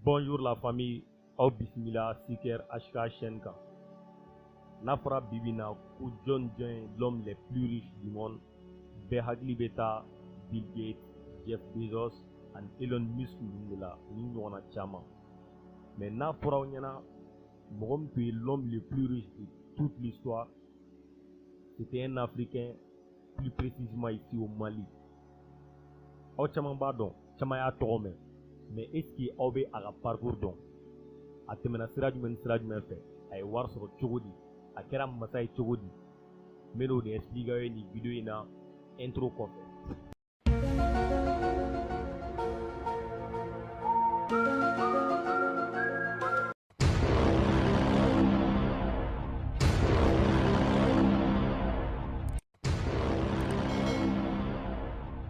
Bonjour la famille, aw bisimila Siker HK chaîne kan. N'a fɔra bi bi in na ko jɔn jɔn ye l'homme le plus riche du monde, bɛɛ hakili bɛ taa Bill Gates, Jeff Bezos ani Elon Musk ninnu de la, u ni ɲɔgɔnna caman. Mais n'a fɔra aw ɲɛna mɔgɔ min tun ye l'homme le plus riche de toute l'histoire, c'était un Africain plus précisément ici au Mali aw caman b'a dɔn caman y'a tɔgɔ mɛn mais est ce que aw bɛ a ka parcours dɔn a tɛmɛna sira jumɛn ni sira jumɛn fɛ a ye wari sɔrɔ cogo di a kɛra masa ye cogo di n bɛn'o de expliquer aw ye nin video in na intro kɔfɛ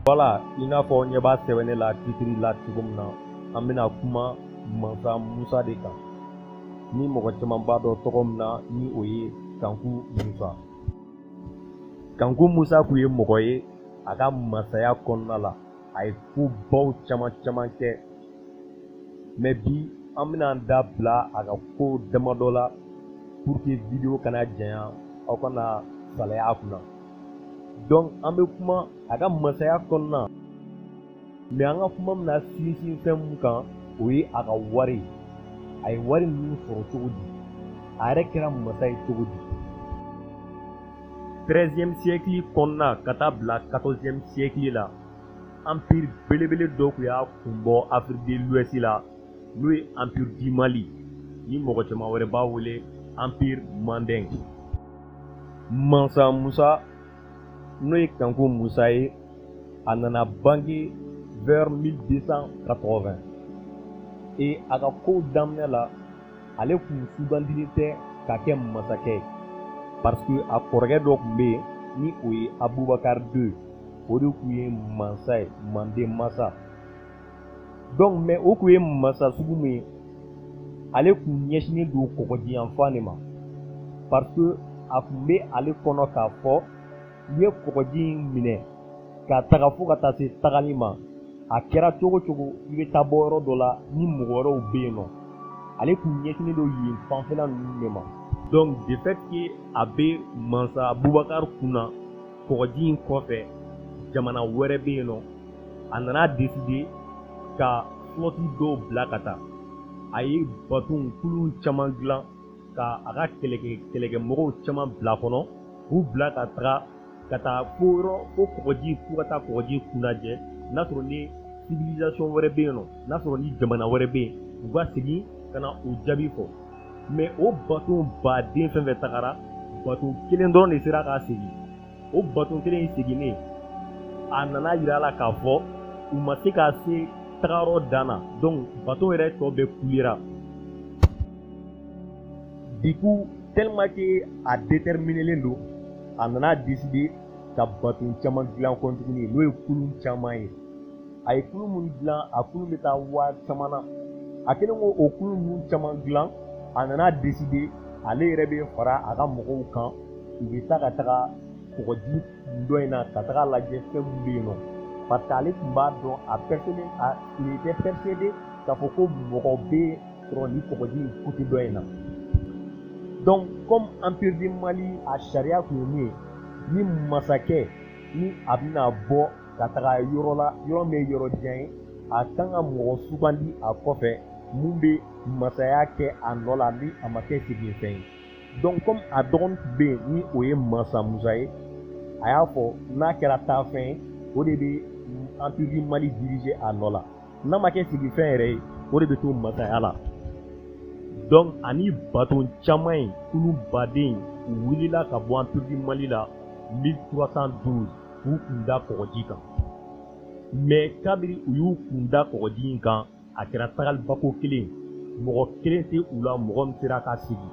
voilà i n'a fɔ ɲɛ b'a sɛbɛnnen la titiri la cogo min na an bɛna kuma mansa musa de kan ni mɔgɔ caman b'a dɔn tɔgɔ min na ni o ye kanku musa kanku musa tun ye mɔgɔ ye a ka masaya kɔnɔna la a ye ko baw caman caman kɛ mais bi an bɛna an da bila a ka ko damadɔ la pour que video kana janya aw kana salaya a kunna donc an bɛ kuma a ka masaya kɔnɔna mais an ka kuma bɛna sinsin fɛn min kan o ye a ka wari ye a ye wari ninnu sɔrɔ cogo di a yɛrɛ kɛra masa ye cogo di 13e siècle kɔnɔna ka taa bila 14e siècle la empire belebele dɔ tun y'a kun bɔ Afrique de l'Ouest la n'o ye empire du Mali ni mɔgɔ caman wɛrɛ b'a wele empire Mandeng mansa Musa n'o ye kanku musa ye a nana bange vers 1280 et a ka kow daminɛ la ale tun sugandilen tɛ ka kɛ masakɛ ye parce que a kɔrɔkɛ dɔ tun bɛ yen ni o ye abubakar 2 o de tun ye mansa ye manden masa donc mais o tun ye masa sugu min ye ale tun ɲɛsinnen don kɔgɔji yanfan de ma parce que a tun bɛ ale kɔnɔ k'a fɔ i ye kɔgɔji in minɛ ka taga fo ka taa se tagali ma a kɛra cogo o cogo i bɛ taa bɔ yɔrɔ dɔ la ni mɔgɔ wɛrɛw bɛ yen nɔ ale tun ɲɛsinnen don yen fanfɛla ninnu de ma donc de fait que a bɛ mansa abubakar kun na kɔgɔji in kɔfɛ jamana wɛrɛ bɛ yen nɔ a nana deside ka flɔti dɔw bila ka taa a ye baton kulun caman dilan ka a ka kɛlɛkɛ kɛlɛkɛmɔgɔw caman bila kɔnɔ k'u bila ka taga ka taa fo yɔrɔ fo kɔgɔji fo ka taa kɔgɔji kun lajɛ n'a sɔrɔ ni civilisation wɛrɛ bɛ yen nɔ n'a sɔrɔ ni jamana wɛrɛ bɛ yen u ka segin ka na u jaabi fɔ mɛ o baton baden fɛn fɛn tagara baton kelen dɔrɔn de sera ka segin o baton kelen in seginnen a nana yira a la k'a fɔ u ma se ka se tagayɔrɔ dan na donc baton yɛrɛ tɔ bɛɛ kulera du coup tellement que a déterminelen don a nana décider ka baton caman dilan kɔ tuguni n'o ye kulun caman ye a ye kulun min dilan a kulun bɛ taa waa caman na a kɛlen kɔ o kulun ninnu caman dilan a nana deside ale yɛrɛ bɛ fara a ka mɔgɔw kan u bɛ taa ka taga kɔgɔji dɔ in na ka taga lajɛ fɛn min bɛ yen nɔ parce que ale tun b'a dɔn il était persuadé k'a fɔ ko mɔgɔ bɛ sɔrɔ nin kɔgɔji in côté dɔ in na donc comme empire du mali a sariya tun ye min ye ni masakɛ ni a bɛna bɔ ka taga yɔrɔ la yɔrɔ min ye yɔrɔ jan ye a kan ka mɔgɔ sugandi a kɔfɛ min bɛ masaya kɛ a nɔ la ni a ma kɛ seginfɛn ye donc comme a dɔgɔnin tun bɛ yen ni o ye masa musa ye a y'a fɔ n'a kɛra taafɛn ye o de bɛ empire du mali dirige a nɔ la n'a ma kɛ seginfɛn yɛrɛ ye o de bɛ to masaya la donc a ni baton caman ye kulun baden wulila ka bɔ empire du mali la 1312 k'u kun da kɔgɔji kan mɛ kabiri u y'u kun da kɔgɔji in kan a kɛra tagalibako kelen mɔgɔ kelen tɛ u la mɔgɔ min sera ka segin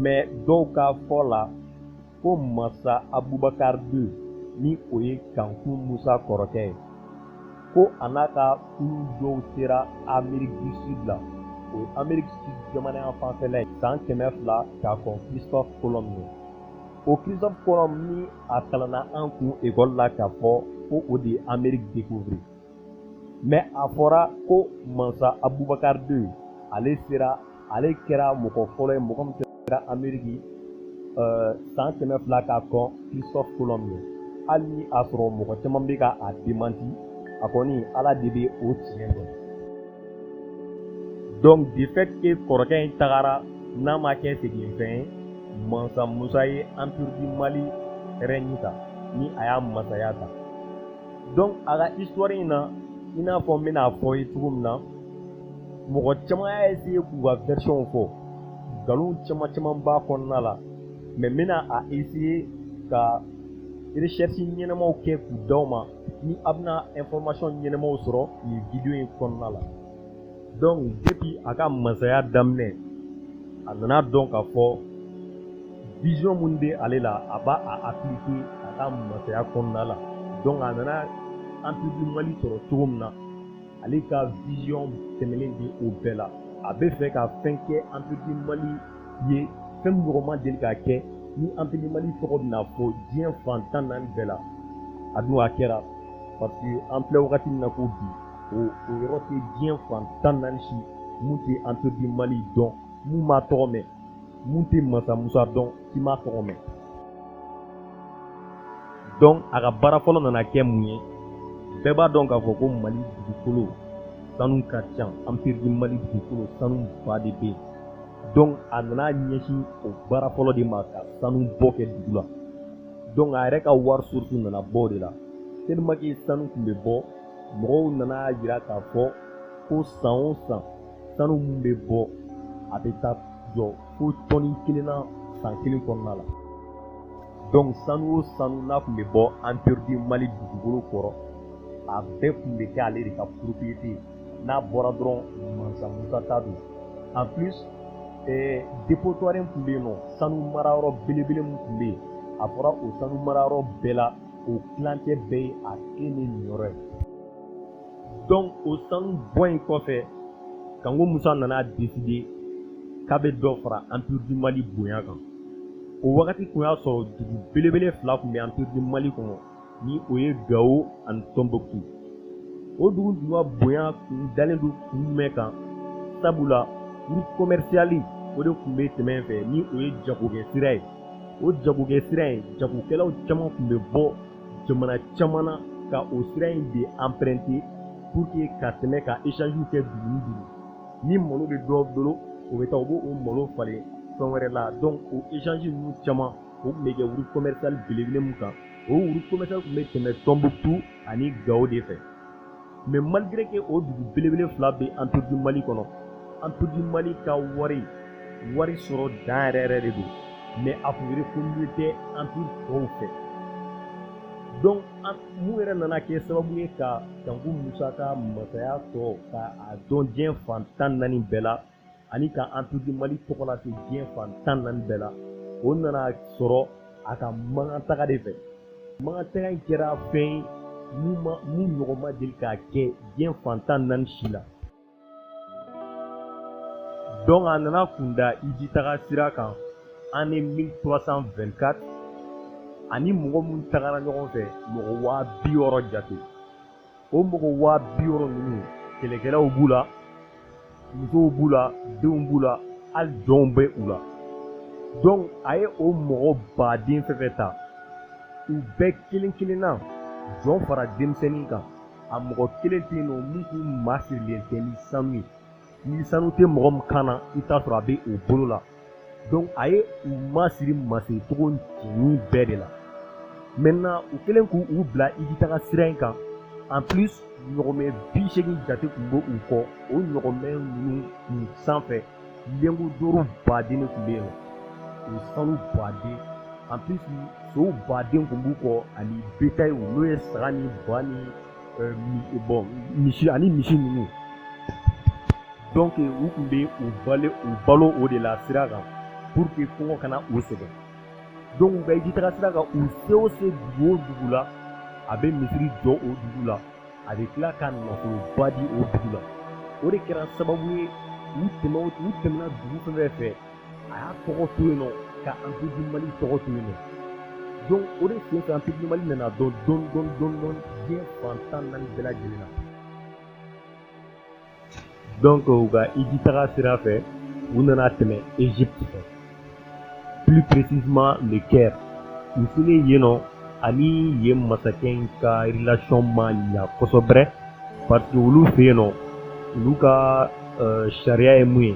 mɛ dɔw ka fɔ la ko masa abubakar ii ni o ye kankun musa kɔrɔkɛ ye ko a n'a ka kulun dɔw sera ameriki du sud la o ye ameriki sud jamana yan fanfɛla ye san kɛmɛ fila ka kɔn christophe colomb ɲɛ o christophe colomb ni a kalanna an kun ekɔli la k'a fɔ ko o de ye ameriki découvrir mɛ a fɔra ko mansa abubakar ii ale sera ale kɛra mɔgɔ fɔlɔ ye mɔgɔ min sera ameriki eh, san kɛmɛ fila ka kɔn christophe colomb ɲɛ hali ni a sɔrɔ mɔgɔ caman bɛ ka a demanti a kɔni ala de bɛ o tiɲɛ dɔn donc de fait que kɔrɔkɛ in tagara n'a ma kɛ seginfɛn ye mansa musa ye empire du mali rɛɲi ta ni a y'a masaya ta donc a ka histoire in na i n'a fɔ n bɛn'a fɔ ye cogo min na mɔgɔ caman y'a essayer k'u ka version fɔ nkalon caman caman b'a kɔnɔna la mais n bɛna a essayer ka recherche ɲɛnamaw kɛ k'u d'aw ma ni a bɛna information ɲɛnamaw sɔrɔ nin video in kɔnɔna la donc depuis a ka masaya daminɛ a nana a dɔn k'a fɔ vision minnu bɛ ale la a b'a a appliquer a ka masaya kɔnɔna la donc a nana empire du Mali sɔrɔ cogo min na ale ka vision tɛmɛnen bɛ o bɛɛ la a bɛ fɛ ka fɛn kɛ empire du Mali ye fɛn min ɲɔgɔn ma deli ka kɛ ni empire du Mali tɔgɔ bɛna fɔ diɲɛ fan tan naani bɛɛ la a dun a kɛra parce que an filɛ wagati min na ko bi o o yɔrɔ tɛ diɲɛ fan tan naani si mun tɛ empire du Mali dɔn mun m'a tɔgɔ mɛn mun tɛ mansa musa dɔn k'i m'a tɔgɔ mɛn donc a ka baara fɔlɔ nana kɛ mun ye bɛɛ b'a dɔn k'a fɔ ko mali dugukolo sanu ka ca empire du Mali dugukolo sanu ba de bɛ yen donc a nana a ɲɛsin o baara fɔlɔ de ma ka sanu bɔ kɛ dugu la donc a yɛrɛ ka wari source nana bɔ o de la tellement que sanu tun bɛ bɔ mɔgɔw nana a yira k'a fɔ ko san o san sanu min bɛ bɔ a bɛ taa jɔ fo tɔni kelen na san kelen kɔnɔna la donc sanu o sanu n'a tun bɛ bɔ empire du Mali dugukolo kɔrɔ a bɛɛ tun bɛ kɛ ale de ka propriété ye n'a bɔra dɔrɔn mansa musa ta don en plus eh, dépotoire tun bɛ yen n'o sanu marayɔrɔ belebele min tun bɛ yen a fɔra o sanu marayɔrɔ bɛɛ la o tilancɛ bɛɛ ye a kelen de niyɔrɔ ye donc o sanu bɔ in kɔfɛ kanko musa nana a deside k'a bɛ dɔ fara empire du Mali bonya kan o wagati tun y'a sɔrɔ dugu belebele fila tun bɛ empire du Mali kɔnɔ ni o ye gawo ani tɔnbukutu o dugu tun ka bonya tun dalen don kun jumɛn kan sabula route commerciale o de tun bɛ tɛmɛ fɛ ni o ye jagokɛ sira ye o jagokɛ sira in jagokɛlaw caman tun bɛ bɔ jamana caman na ka o sira in de emprunter pour que ka tɛmɛ ka échangew kɛ dugu ni dugu ni malo bɛ dɔ bolo o bɛ taa o b'o o malo falen fɛn wɛrɛ la donc o échange ninnu caman o tun bɛ kɛ route commerciale belebele min kan o route commerciale tun bɛ tɛmɛ Tɔnbukutu ani Gawo de fɛ. mais malgré que o dugu belebele fila bɛ empire du Mali kɔnɔ empire du Mali ka wari wari sɔrɔ da yɛrɛ yɛrɛ de don mais a tun reconnu tɛ empire tɔw fɛ donc mun yɛrɛ nana kɛ sababu ye ka kanku musa ka masaya to ka a dɔn diɲɛ fan tan naani bɛɛ la ani ka empire du mali tɔgɔ lase diɲɛ fan tan naani bɛɛ la o nana sɔrɔ a ka makan taga de fɛ makan taga in kɛra fɛn ye mun ɲɔgɔn ma deli ka kɛ diɲɛ fan tan naani si la donc a nana kun da hiji taga sira kan année 1324 ani mɔgɔ minnu tagara ɲɔgɔn fɛ mɔgɔ waa bi wɔɔrɔ jate o mɔgɔ waa bi wɔɔrɔ ninnu kɛlɛkɛlaw b'u la musow b'u la denw b'u la hali jɔnw bɛ u la donc a ye o mɔgɔ baden fɛn fɛn ta u bɛɛ kelen kelenna jɔn fara denmisɛnnin kan a mɔgɔ kelen tɛ yen nɔ min tun masirilen tɛ ni sanu ye ni sanu tɛ mɔgɔ min kan na i t'a sɔrɔ a bɛ o bolo la donc a ye u masiri masiricogo cɛɲi bɛɛ de la maintenant u kɛlen k'u bila hijitaga sira in kan en plus ɲɔgɔmɛ bi seegin jate tun bɛ u kɔ o ɲɔgɔmɛ ninnu kun sanfɛ lingot d'or baden de tun bɛ yen o sanu baden en plus sow baden tun b'u kɔ ani betayiw n'o ye saga ni ba ni bon misi ani misi ninnu donc u tun bɛ u balo u balo o de la sira kan pour que kɔngɔ kana u sɛgɛn donc u ka hiji taga sira kan u se o se dugu o dugu la a bɛ misiri jɔ o dugu la a bɛ tila ka nafoloba di o dugu la o de kɛra sababu ye u tɛmɛ u tɛmɛna dugu fɛn fɛn fɛ a y'a tɔgɔ to yen nɔ ka empire du mali tɔgɔ to yen nɔ donc o de sen fɛ empire du mali nana dɔn dɔn dɔn dɔn dɔn diɲɛ fan tan naani bɛɛ lajɛlen na donc u ka hiji taga sira fɛ u nana tɛmɛ egypte fɛ plus précisément le caire u selen yen nɔ ani yen masakɛ in ka relation ma ɲa kosɛbɛ parce que olu fɛ yen nɔ olu ka sariya ye mun ye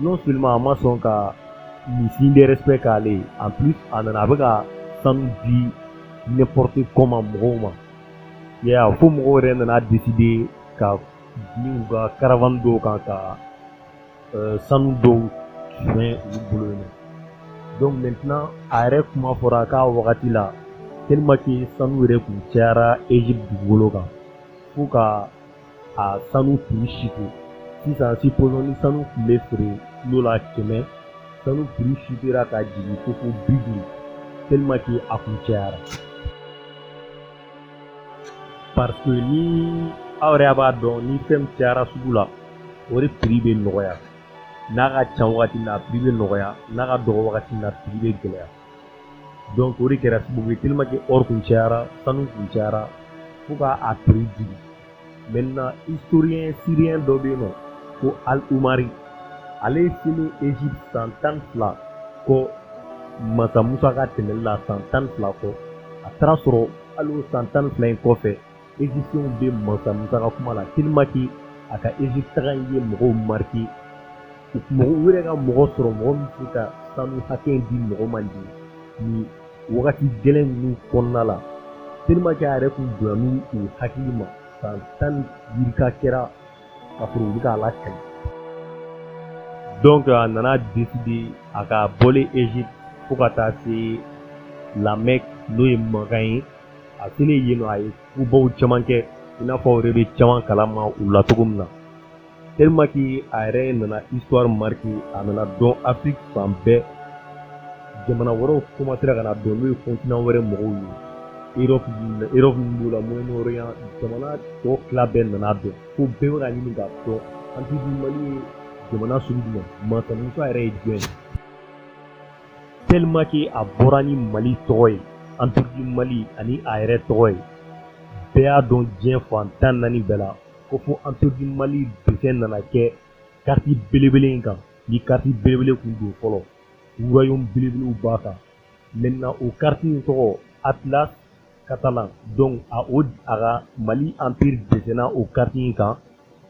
non seulement a ma sɔn ka nin signe de respect k'ale ye en plus a nana a bɛ ka sanu di n'importe comment mɔgɔw ma i y'a ye fo mɔgɔw yɛrɛ nana décider ka bin u ka caravane dɔw kan ka euh, sanu dɔw suɲɛ u bolo yen nɔ donc maintenant a yɛrɛ kuma fɔra k'a wagati la tellement que sanu yɛrɛ tun cayara Egypte dugukolo kan fo ka a sanu prix chuter sisan supposons ni sanu tun bɛ feere kilo la kɛmɛ sanu prix chutéra ka jigin fo fo bi duuru tellement que a kun cayara parce que ni aw yɛrɛ b'a dɔn ni fɛn cayara sugu la o de prix bɛ nɔgɔya n'a ka ca wagati na a prix bɛ nɔgɔya n'a ka dɔgɔ wagati na a prix bɛ gɛlɛya donc o de kɛra sababu ye tellement que or kun cayara sanu kun cayara fo ka a prix jigin maintenant historien syrien dɔ bɛ yen nɔ ko al umari ale selen egypte san tan ni fila kɔ masa musa ka tɛmɛli la san tan ni fila kɔ a taara sɔrɔ hali o san tan ni fila in kɔfɛ Egyptiens bɛ mansa Musa ka kuma la tellement que a ka Egypte taga in ye mɔgɔw marquer u tun u yɛrɛ ka mɔgɔ sɔrɔ mɔgɔ min bɛ se ka sanu hakɛ in di mɔgɔ ma nin nin wagati gɛlɛn ninnu kɔnɔna la tellement que a yɛrɛ tun donna n'u u hakili ma san tan ni yirika kɛra ka sɔrɔ u bɛ k'a lakali donc a nana décider a ka bɔlen Egypte fo ka taa se La Mecque n'o ye Makan ye a selen yen nɔ a ye kobaw caman kɛ i n'a fɔ aw yɛrɛ bɛ caman kalama o la cogo min na tellement que a yɛrɛ nana histoire marqué a nana dɔn Afrique fan bɛɛ jamana wɛrɛw commencera ka na dɔn n'o ye continent wɛrɛ mɔgɔw ye Europe Europe min b'o la Moyen-Orient jamana tɔ tila bɛɛ nana dɔn fo bɛɛ bɛ ka ɲini k'a dɔn empire du Mali ye jamana sugu jumɛn mansa Musa yɛrɛ ye jɔn ye tellement que a bɔra ni mali tɔgɔ ye empire du mali ani a yɛrɛ tɔgɔ ye bɛɛ y'a dɔn diɲɛ fan tan naani bɛɛ la ko fo empire du mali dessin nana kɛ kariti belebele in kan ni kariti belebele kun don fɔlɔ royaume belebelew b'a kan maintenant o kariti in tɔgɔ atlas catalan donc a o a ka mali empire dɛsɛnna o kariti in kan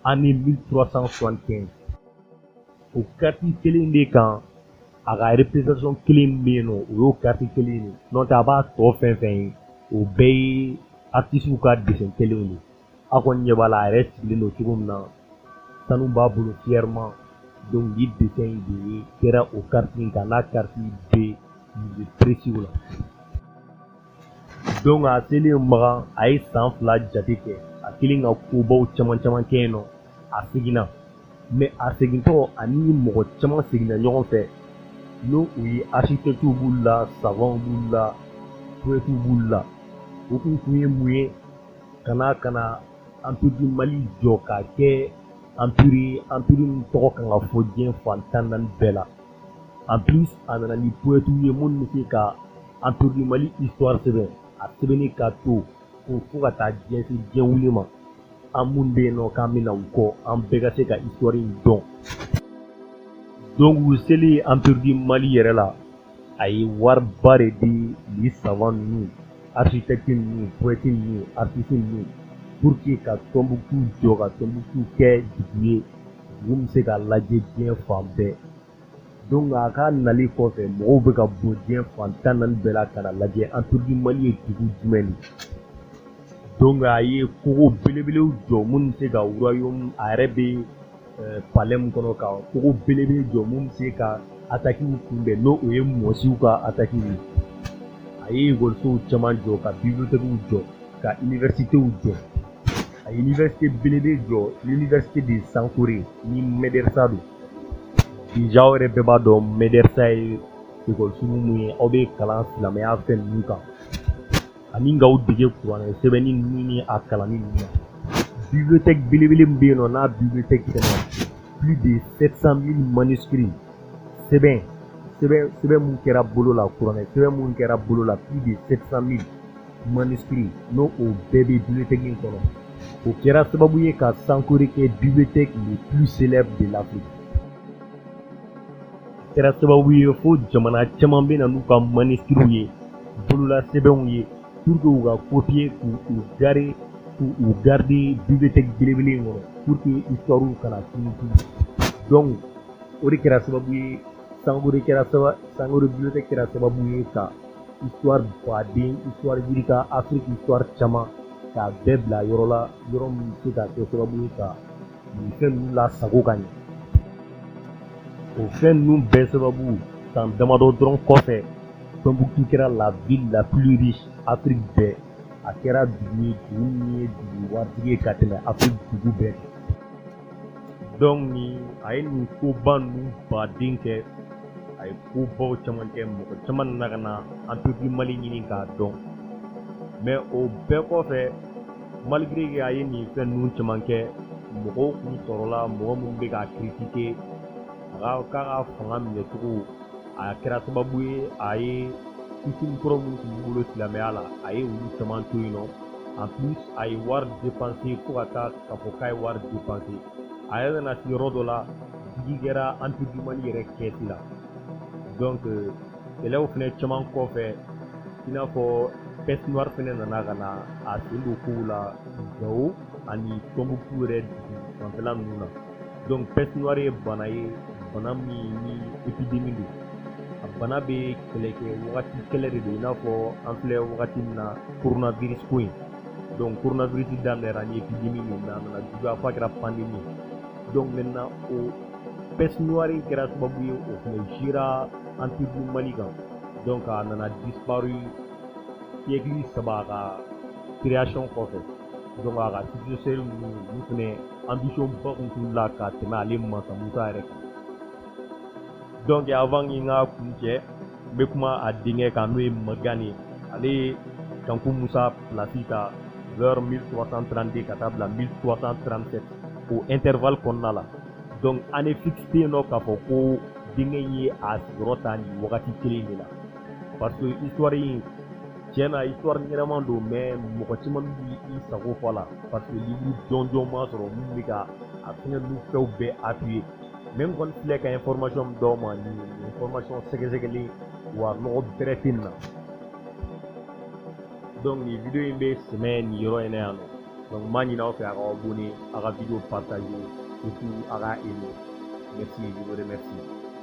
année 1375 o kariti kelen de kan a ka représentation kelen min bɛ yen nɔ o y'o kariti kelen de n'o tɛ a b'a tɔ fɛn fɛn ye o bɛɛ ye artisiw ka dessin kɛlenw de aw kɔni ɲɛ b'a la a yɛrɛ sigilen don cogo min na sanu b'a bolo fièrement donc ni dessin in de ye kɛra o kariti in kan n'a kariti bɛ musée précis la donc a selen makan a ye san fila jate kɛ a kɛlen ka kobaw caman caman kɛ yen nɔ a seginna mais a segintɔ ani mɔgɔ caman seginna ɲɔgɔn fɛ n'o u ye architectew b'u la savanw b'u la poetiw b'u la o kun kun ye mun ye ka na ka na anpiri du mali jɔ k'a kɛ anpiri anpiri min tɔgɔ kan ka fɔ diɲɛ fan tan naani bɛɛ la en plus a nana ni poetiw ye minnu bɛ se ka empire du mali histoire sɛbɛn a sɛbɛnnen ka to ko fo ka taa se diɲɛ wuli ma an minnu bɛ yen nɔ k'an bɛ na u kɔ an bɛɛ ka se ka histoire in dɔn donc u selen empire du mali yɛrɛ la a ye wariba de di ni savant ninnu architecte ninnu poète ninnu artiste ninnu pour que ka tɔnbukutu jɔ ka tɔnbukutu kɛ dugu ye Dugu bɛ se ka lajɛ diɲɛ fan bɛɛ donc a ka nali kɔfɛ mɔgɔw bɛ ka bɔ diɲɛ fan tan naani bɛɛ la ka na lajɛ empire du Mali ye dugu jumɛn ye donc a ye kogo belebelew jɔ minnu bɛ se ka royaume a yɛrɛ bɛ eh, palais min kɔnɔ ka kogo belebele jɔ minnu bɛ se ka atakiw kunbɛn n'o o ye mɔsiw ka ataki ye a ye ekɔlisow caman jɔ ka bibliothèques jɔ ka universités jɔ a ye université belebele jɔ université de sankore ni mɛdɛrisa don déjà aw yɛrɛ bɛɛ b'a dɔn mɛdɛrisa ye ekɔlisugu mun ye aw bɛ kalan silamɛya fɛn ninnu kan ani k'aw dege kuranɛ sɛbɛnni ninnu ni a kalanni ninnu na bibliothèque belebele min bɛ yen nɔ n'a bibliothèque fɛnɛ plus de 700 000 manuscrits sɛbɛn sɛbɛn sɛbɛn mun kɛra bolo la kuranɛ sɛbɛn mun kɛra bolo la plus de 700 000 manuscrits ni o bɛɛ bɛ bibiliyotɛki in kɔnɔ o kɛra sababu ye ka sankore kɛ bibiliyotɛki le plus célèbre de l'Afrique a kɛra sababu ye fo jamana caman bɛ na n'u ka manuscrits ye bololasɛbɛnw ye pour que u ka kopiye k'u gare k'u garder bibiliyotɛki belebele in kɔnɔ pour que histoire kana tunu tunu donc o de kɛra sababu ye sankore kɛra sababu sankore bibiliyotɛki kɛra sababu ye ka histoire baden histoire yirika afiriki histoire caman k'a bɛɛ bila yɔrɔ la yɔrɔ min bɛ se ka kɛ sababu ye ka nin fɛn ninnu lasago ka ɲɛ o fɛn ninnu bɛɛ sababu san damadɔ dɔrɔn kɔfɛ tɔnbukutu kɛra la ville la plus riche afiriki bɛɛ a kɛra dugu ye dugu min ye dugu waritigi ye ka tɛmɛ afiriki dugu bɛɛ kan donc ni a ye nin koba ninnu baden kɛ a ye kobaw caman kɛ mɔgɔ caman nana ka na empire du Mali ɲini k'a dɔn mais o bɛɛ kɔfɛ malgré que a ye nin fɛn ninnu caman kɛ mɔgɔw kun sɔrɔla mɔgɔ minnu bɛ k'a critiquer a ka a ka fanga minɛcogo a kɛra sababu ye a ye coutume kɔrɔ minnu tun b'u bolo silamɛya la a ye olu caman to yen nɔ en plus a ye wari dépenser fo ka taa ka fɔ k'a ye wari depanse a yɛrɛ nana se yɔrɔ dɔ la digi kɛra empire du Mali yɛrɛ kɛsi la donc kɛlɛw fɛnɛ caman kɔfɛ i n'a fɔ peste noire fɛnɛ nana ka na a sen don kow la gawo ani tɔnbukutu yɛrɛ dugu fanfɛla ninnu na donc peste noire ye bana ye bana min ni epidemi don a bana bɛ kɛlɛ kɛ wagati kɛlɛ de don i n'a fɔ an filɛ wagati min na coronavirus ko in donc coronavirus daminɛra ni epidemi min na a nana juguya f'a kɛra pandemi donc maintenant o peste noire in kɛra sababu ye o fɛnɛ jigira empire du mali kan donc a nana disparu siècle saba a ka création kɔfɛ donc a ka successeur ninnu olu fɛnɛ ambition ba kun t'u la ka tɛmɛ ale mansa musa yɛrɛ kan donc avant n ka kuncɛ n bɛ kuma a denkɛ kan n'o ye magan ye ale ye kanku musa pilasi ta vers 1332 ka taa bila 1337 o intervalle kɔnɔna la donc année fixe tɛ yen nɔ k'a fɔ ko denkɛ in ye a sigiyɔrɔ ta nin wagati kelen de la parce que histoire in tiɲɛ na histoire ɲɛnama don mais mɔgɔ caman b'i sago fɔ a la parce que livre jɔnjɔn ma sɔrɔ min bɛ ka a fɛngɛ ninnu fɛnw bɛɛ appuyer mais n kɔni filɛ ka information min d'aw ma nin information sɛgɛsɛgɛlen wa nɔgɔ bɛrɛ tɛ nin na donc nin video in bɛ sɛmɛ nin yɔrɔ in na yan nɔ donc n b'a ɲini aw fɛ a k'aw abonner a ka video partager et puis a ka aimer merci je vous remercie